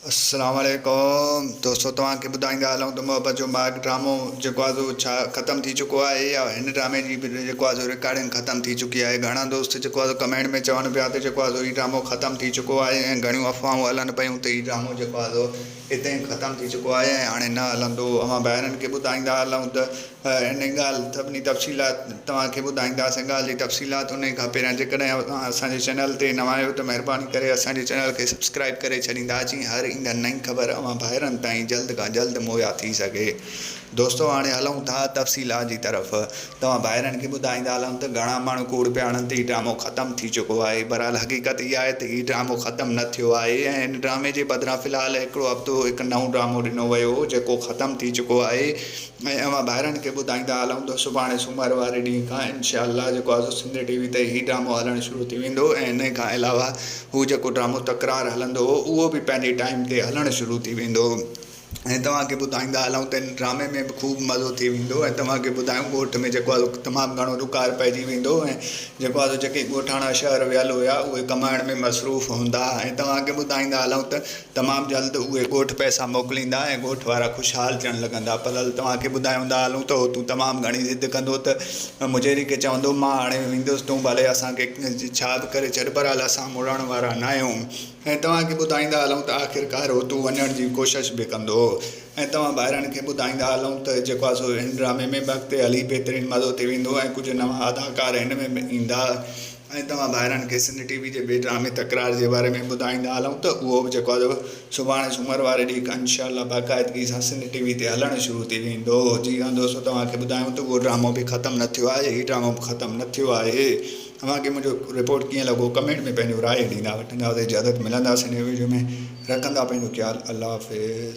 السلام عليڪم دوستو توهان کي ٻڌائيندا هلون ته محبت جو مارگ ڊرامو جيڪو آهي سو ڇا ختم ٿي چڪو آهي يا هن ڊرامي جي به جيڪو آهي سو رڪارڊنگ ختم ٿي چڪي آهي گهڻا دوست جيڪو آهي سو ڪمينٽ ۾ چون پيا ته جيڪو آهي سو هي ڊرامو ختم ٿي چڪو آهي ۽ گهڻيون افواهون هلن پيون ته هي ڊرامو جيڪو آهي سو هتي ختم ٿي چڪو آهي ۽ هاڻي نه هلندو اوهان ڀائرن کي ٻڌائيندا هلون ته انهيء ڳالهه سڀني تفصيلات توهان کي ٻڌائينداسين. ڳالهه جي تفصيلات انهيء کان پهريان جيڪڏهن اوهان اسان جي چينل تي نوان آهيو ته مهرباني ڪري اسان جي چينل کي سبسڪرائيب ڪري ڇڏيندا جيئن هر ايندڙ نئين خبر اوهان ڀائرن تائين جلد کان جلد مهيا ٿي سگهي. دوستو هاڻي هلون ٿا تفصيلات جي طرف. توهان ڀائرن کي ٻڌائيندا هلون ته گهڻا ماڻهو ڪوڙ پيا هڻن ته هي ڊرامو ختم ٿي چڪو آهي. بهرحال حقيقت اها آهي ته هي ڊرامو ختم نه ٿيو آهي ۽ هن ڊرامي جي بدران في الحال هڪڙو هفتو هڪ نئون ڊرامو ڏنو ويو هو جيڪو ختم ٿي چڪو آهي. ۽ اوهان ڀائرن کي ٻڌائيندا هلون ته سڀاڻي سومر واري ڏينهن کان انشاء الله جيڪو آزو سنڌ ٽي وي تي هي ڊرامو هلڻ شروع ٿي ويندو ۽ انهي کان علاوه هو جيڪو ڊرامو تڪرار هلندو هو اهو به پنهنجي ٽائيم تي هلڻ شروع ٿي ويندو ۽ توهان کي ٻڌائيندا هلون ته ان ڊرامي ۾ به خوب مزو ٿي ويندو ۽ توهان کي ٻڌايون ڳوٺ ۾ جيڪو آزو تمام گهڻو ڏڪار پئجي ويندو ۽ جيڪو آزو جيڪي ڳوٺاڻا شهر ويل هيا اهي ڪمائڻ ۾ مصروف هوندا ۽ توهان کي ٻڌائيندا هلون ته تمام جلد اهي ڳوٺ پئسا موڪليندا ۽ ڳوٺ وارا خوشحال ٿيڻ لڳندا. پلل توهان کي ٻڌايوندا هلون ته هو تون تمام گهڻي ضد ڪندو ته مجيري کي چوندو مان هاڻي ويندس تون ڀلي اسان کي ڇا به ڪري ڇڏ پر هل اسان مڙڻ وارا ناهيون ۽ توهان کي ٻڌائيندا هلون ته آخرڪار هو تون وڃڻ جي ڪوشش به ڪندو ۽ توهان ڀائرن کي ٻڌائيندا هلون ته جيڪو آهي سو هن ڊرامي ۾ به اڳتي هلي بهترين مزو ٿي ويندو ۽ ڪجهه نوان اداڪار هن ۾ به ايندا. ۽ توهان ڀائرن کي سنڌ ٽي وي جي بي ڊرامي تڪرار جي باري ۾ ٻڌائيندا هلون ته اهو به جيڪو ادب سڀاڻي سومر واري ڏينهن کان انشاء الله باقاعدگي سان سنڌ ٽي وي تي هلڻ شروع ٿي ويندو جي هان دوستو توهان کي ٻڌايون ته اهو ڊرامو به ختم نه ٿيو آهي هي ڊرامو به ختم نه ٿيو آهي اوهان کي منهنجو رپورٽ ڪيئن لڳو ڪمينٽ ۾ پنهنجو راء ڏيندا وٺندا ته اجازت ملنداسين نئين وڊيو ۾ رکندا پنهنجو خيال الله حافظ.